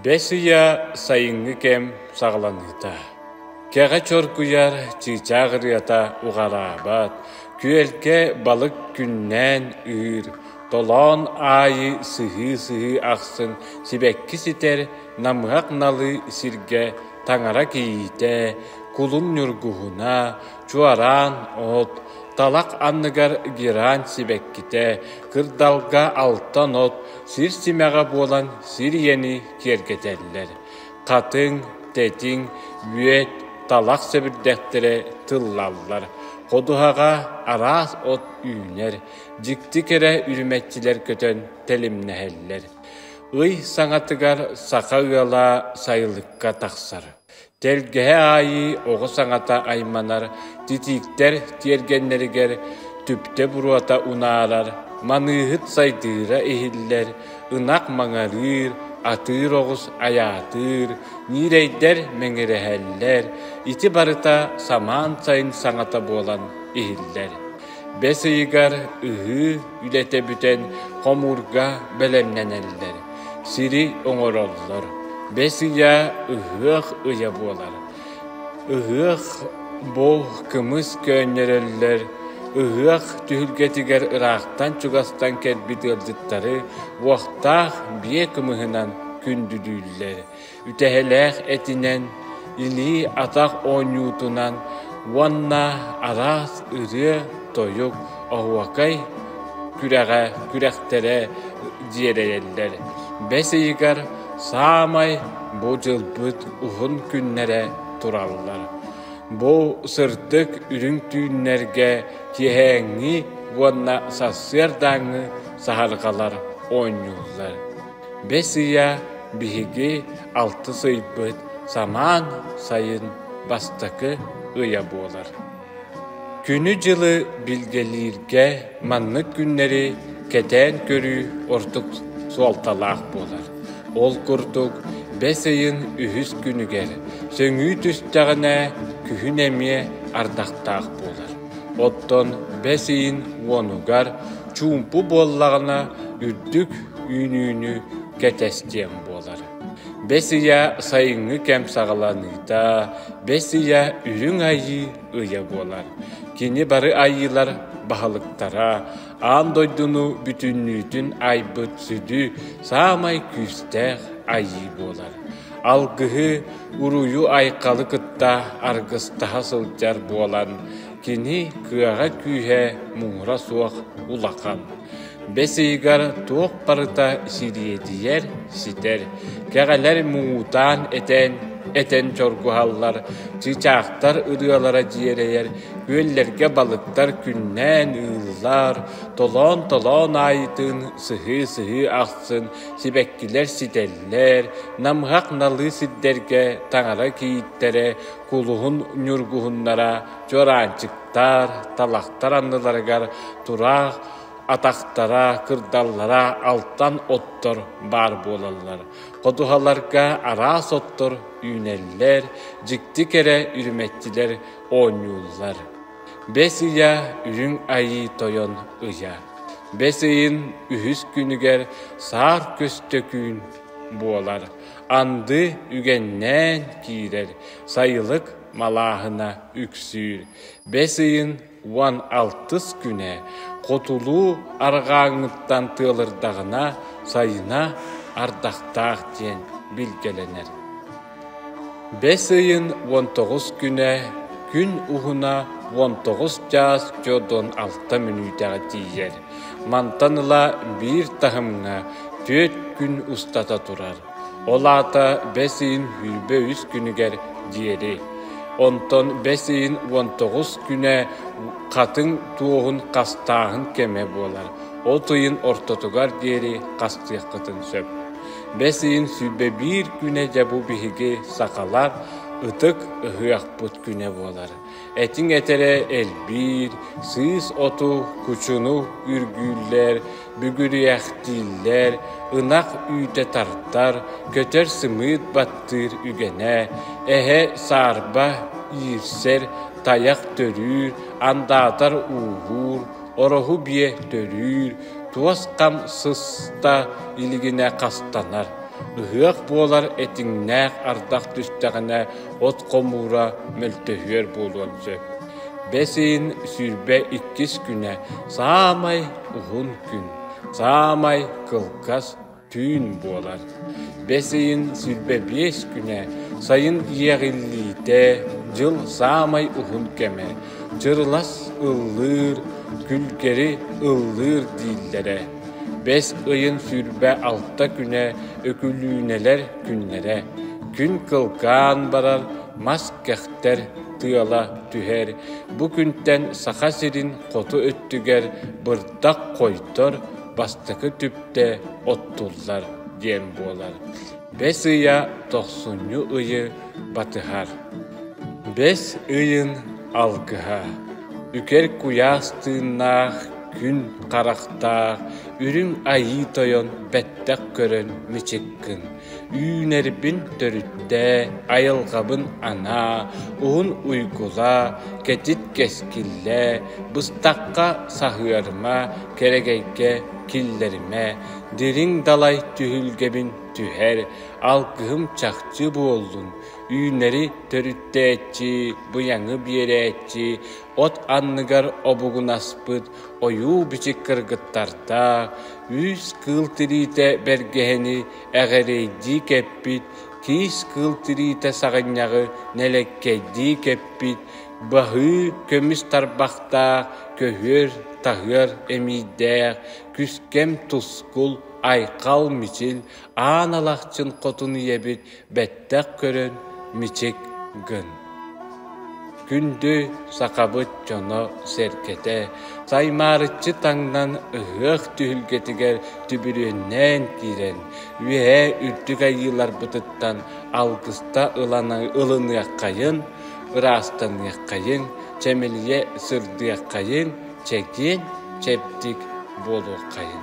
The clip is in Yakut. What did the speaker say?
Бэс ыйа сайыҥҥы кэм саҕаланыыта. Кэҕэ чоргуйар, чыычаах ырыата уҕараабат, күөлгэ балык күннээн үүр, толоон аайы сыһыы-сыһыы ахсын сибэкки ситэр, намыһах налыы сиргэ таҥара кийиитэ, кулун ньургуһуна, Чуораан от талах анныгар герань сибэккитэ, кырдалга алтан от, сир симэҕэ буолан сир ийэни киэргэтэллэр, хатыҥ, тэтиҥ, үөт, талах сэбирдэхтэрэ тыллаллар, ходуһаҕа араас от үүнэр, дьикти кэрэ үрүмэччилэр көтөн тэлимнэһэллэр. Ый саҥатыгар саха ыала сайылыкка тахсар. Тэлгэһэ аайы оҕо саҥата айманар, титиктэр тиэргэннэригэр түптэ буруота унаарар, маныыһыт сайдыыра иһиллэр, ынах маҥарыыр, атыыр оҕус айаатыыр, ньирэйдэр мэҥирэһэллэр, ити барыта самаан сайын саҥата буолан иһиллэр бэс ыйыгар ыһыы үлэтэ бүтэн хомуурга бэлэмнэнэллэр, сири оҥороллор, бэс ыйа ыһыах ыйа буолар. Ыһыах буол кымыс көөнньөрөллөр, ыһыах түһүлгэтигэр ыраахтан-чугастан кэлбит ыалдьыттары уохтаах биэ кымыһынан күндүлүүллэр. Үтэһэлээх этинэн, илии-атах оонньуутунан уонна араас ырыа-тойук, оһуокай күрэҕэ күрэхтэрэ дьиэрэйэллэр. Бэс ыйыгар саамай бу дьылбыт уһун күннэрэ тураллар. Бу сырдык үрүҥ түүннэргэ киэһээҥҥи уонна сарсыардааҥҥы саһарҕалар оонньууллар. Бэс ыйа биһиги алтыс ыйбыт самаан сайын бастакы ыйа буолар. Күнү-дьылы билгэлииргэ маннык күннэри кэтээн көрүү ордук суолталаах буолар. Ол курдук, бэс ыйын үһүс күнүгэр сөҥүү түстэҕинэ, күһүн эмиэ ардахтаах буолар. Оттон бэс ыйын уонугар чуумпу буоллаҕына, үрдүк үүнүүнү кэтэстиэм буолар. Бэс ыйа сайыҥҥы кэм саҕаланыыта, бэс ыйа Үрүҥ Айыы ыйа буолар. Кини бары айыылар баһылыктара аан дойдуну бүтүннүүтүн айбыт сүдү, саамай күүстээх айыы буолар. Алгыһы, уруйу айхалы кытта аргыстаһа сылдьар буолан, кини кыаҕа-күүһэ муҥура суох улахан, бэс ыйыгар туох барыта сириэдийэр, ситэр, кэҕэлэр муҥутаан этэн, этэн чоргуһаллар, чыычаахтар ырыалара дьиэрэйэр, күөллэргэ балыктар күннээн ыыллар, толоон-толоон аайытын сыһыы-сыһыы ахсын Сибэккилэр ситэллэр, намыһах налыы сирдэргэ таҥара кийииттэрэ кулуһун ньургуһуннара чуораанчыктар, талахтар анныларыгар тураах атахтара, кырдаллара алтан оттор баар буолаллар. Ходуһаларга араас оттор үүнэллэр, дьикти кэрэ үрүмэччилэр оонньууллар. Бэс ыйа Үрүҥ Айыы Тойон ыйа, бэс ыйын үһүс күнүгэр саар көстө күн буолар, анды үгэннээн киирэр, сайылык малааһына үксүүр. Бэс ыйын уон алтыс күнэ хотулуу арҕааҥҥыттан тыалырдаҕына сайына ардахтаах диэн билгэлэнэр. Бэс ыйын уон тоҕус күнэ, күн уһуна уон тоҕус чаас чо дон алта мүнүүтэҕэ тиийэр. Мантан ыла биир таһымҥа түөрт күн устата турар. Ол аата бэс ыйын сүүрбэ үс күнүгэр диэри. Онтон бэс ыйын уон тоҕус күнэ хатыҥ туоһун хастааһын кэмэ буолар. От ыйын ортотугар диэри хастыаххытын сөп. Бэс ыйын сүүрбэ биир күнэ дьэ бу биһиги, сахалар, ытык ыһыахпыт күнэ буолар. Этиҥ этэрэ элбиир, сыыс оту, кучуну үргүүллэр, бүгүрүйэхтииллэр, ынах үүтэ тардар, көтөр сымыыт баттыыр үгэнэ, эһэ саарба иирсэр, тайах төрүүр, андаатар ууһуур, Ороһу биэ төрүүр, туос-хам сыста илигинэ хастанар. Ыһыах буолар этиҥнээх ардах түстэҕинэ от хомуура мөлтөһүөр буолуон сөп. Бэс ыйын сүүрбэ иккис күнэ саамай уһун күн, саамай кылгас түүн буолар. Бэс ыйын сүүрбэ биэс күнэ, сайын иэҕиллиитэ, дьыл саамай уһун кэмэ. Дьырылас ыллыыр, күлгэри ыллыыр дииллэрэ. Бэс ыйын сүүрбэ алта күнэ, Өкүлүүнэлэр күннэрэ. Күн кылгаан барар, мас кэхтэр, тыала түһэр. Бу күнтэн Саха сирин хоту өттүгэр Тах хойдор, бастакы түптэ оттуллар диэн буолар. Бэс ыйа тохсунньу ыйы батыһар. Бэс ыйын алгыһа Үкэр куйаас тыыннаах, күн харахтаах, үрүҥ айыы тойон бэттэх көрөн мичиккин. Үүнэрбин төрүттээ, айылҕабын анаа, уһун уйгулаа, кэтит кэскиллээ, быстахха саһыарыма, кэрэгэйгэ киллэримэ, дириҥ далай түһүлгэбин түһэр, алгыһым чахчы буоллун, үүнэри төрүттээччи, быйаҥы биэрээччи, от анныгар обугунаспыт, ойуу-бичик кыргыттарда, үс-кыыл тириитэ бэргэһэни эҕэрэйдии кэппит, киис-кыыл тириитэ саҕынньаҕы нэлэккэйдии кэппит, баһыы көмүс тарбахтаах, көһүөр-таһыар эмиийдээх, күскэм тускул, айхал мичил, аан алахчын хотун ийэбит Бэттэх көрөн мичик гын Күндү сахабыт дьоно-сэргэтэ Саймаарыччы таҥнан ыһыах түһүлгэтигэр түбүрүөннээн киирэн Үөһээ Үрдүк Айыыларбытыттан алгыста ылыныаххайын, ыраастаныаххайын, чэмэлийэ сырдыаххайын, чэгиэн, чэбдик буолуоххайын